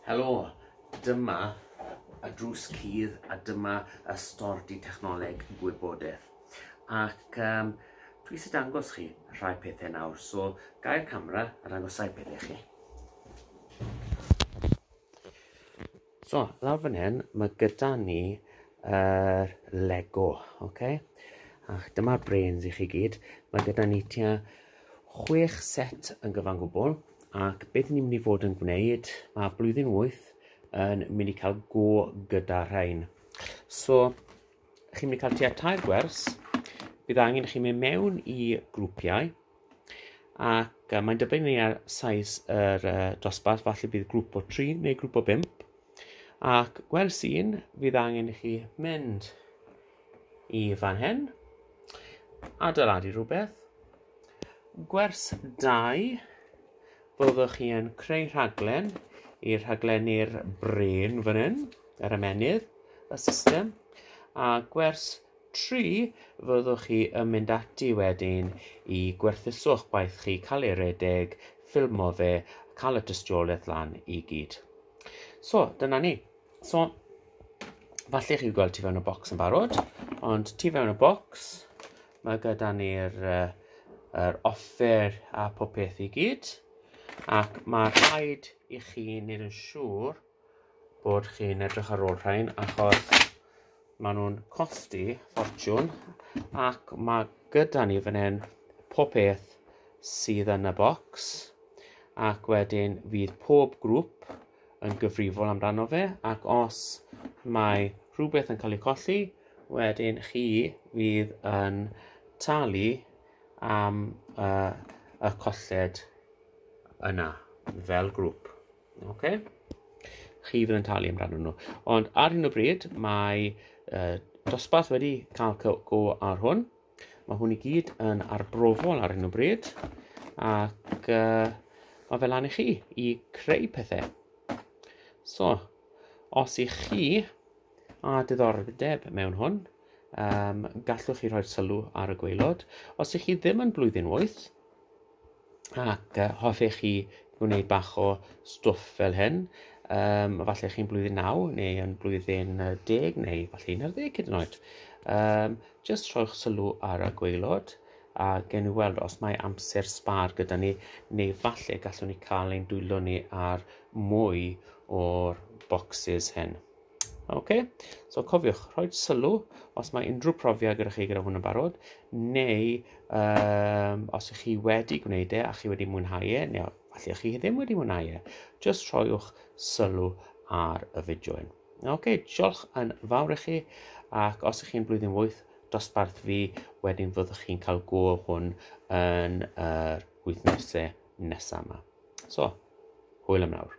Helo, dyma y drws cudd a dyma y stordy technoleg gwybodaeth. Ac um, dwi eisiau dangos chi rhai pethau nawr, so gael camera a dangosau pethau chi. So, lawr fan hyn, mae gyda ni yr Lego, ok? Ac dyma'r brains i chi gyd. Mae gyda ni tua chwech set yn gyfan gwbl, ac beth ni'n mynd i fod yn gwneud, mae blwyddyn wyth yn mynd i cael go gyda rhain. So, chi'n mynd i cael tua tair gwers, bydd angen i chi mynd mewn i grwpiau, ac mae'n dibynnu ar saes yr uh, dosbarth, falle bydd grŵp o tri neu grŵp o bimp, ac gwers un, fydd angen i chi mynd i fan hyn, adeiladu rhywbeth, gwers dau, byddwch chi yn creu rhaglen i'r rhaglennu'r brain fan hyn, yr ymenydd, y system, a gwers Tri, fyddwch chi yn mynd ati wedyn i gwerthuso'ch gwaith chi, cael ei redeg, ffilmo fe, a cael y tystiolaeth lan i gyd. So, dyna ni. So, falle chi'n gweld tu fewn y bocs yn barod, ond tu fewn y bocs, mae gyda ni'r uh, er offer a popeth i gyd, ac mae rhaid i chi wneud yn siŵr bod chi'n edrych ar ôl rhain achos maen nhw'n costi ffortiwn ac mae gyda ni fan hyn pob peth sydd yn y bocs ac wedyn fydd pob grŵp yn gyfrifol amdano fe ac os mae rhywbeth yn cael ei colli wedyn chi fydd yn talu am uh, y colled yna fel grŵp. Okay. Chi fydd yn talu am ran nhw. Ond ar hyn o bryd, mae uh, dosbarth wedi cael go ar hwn. Mae hwn i gyd yn arbrofol ar hyn o bryd. Ac uh, mae fel lan i chi i creu pethau. So, os i chi a diddordeb mewn hwn, um, gallwch chi rhoi'r sylw ar y gweilod. Os ych chi ddim yn blwyddyn 8, ac hoffech chi wneud bach o stwff fel hyn, um, falle chi'n blwyddyn 9 neu yn blwyddyn 10 neu falle 11 hyd yn oed, um, just rhoi'ch sylw ar y gweilod a gen i weld os mae amser sbar gyda ni neu falle gallwn ni cael ein dwylo ni ar mwy o'r boxes hyn. Ok, so cofiwch, rhoi sylw os mae unrhyw profiad gyda chi gyda hwn yn barod, neu um, os ych chi wedi gwneud e a chi wedi mwynhau e, neu falle ych chi ddim wedi mwynhau e, just rhoiwch sylw ar y fideo hyn. Ok, diolch yn fawr i chi, ac os ych chi'n blwyddyn wyth, dosbarth fi, wedyn fyddwch chi'n cael go hwn yn yr wythnosau nesaf yma. So, hwyl am nawr.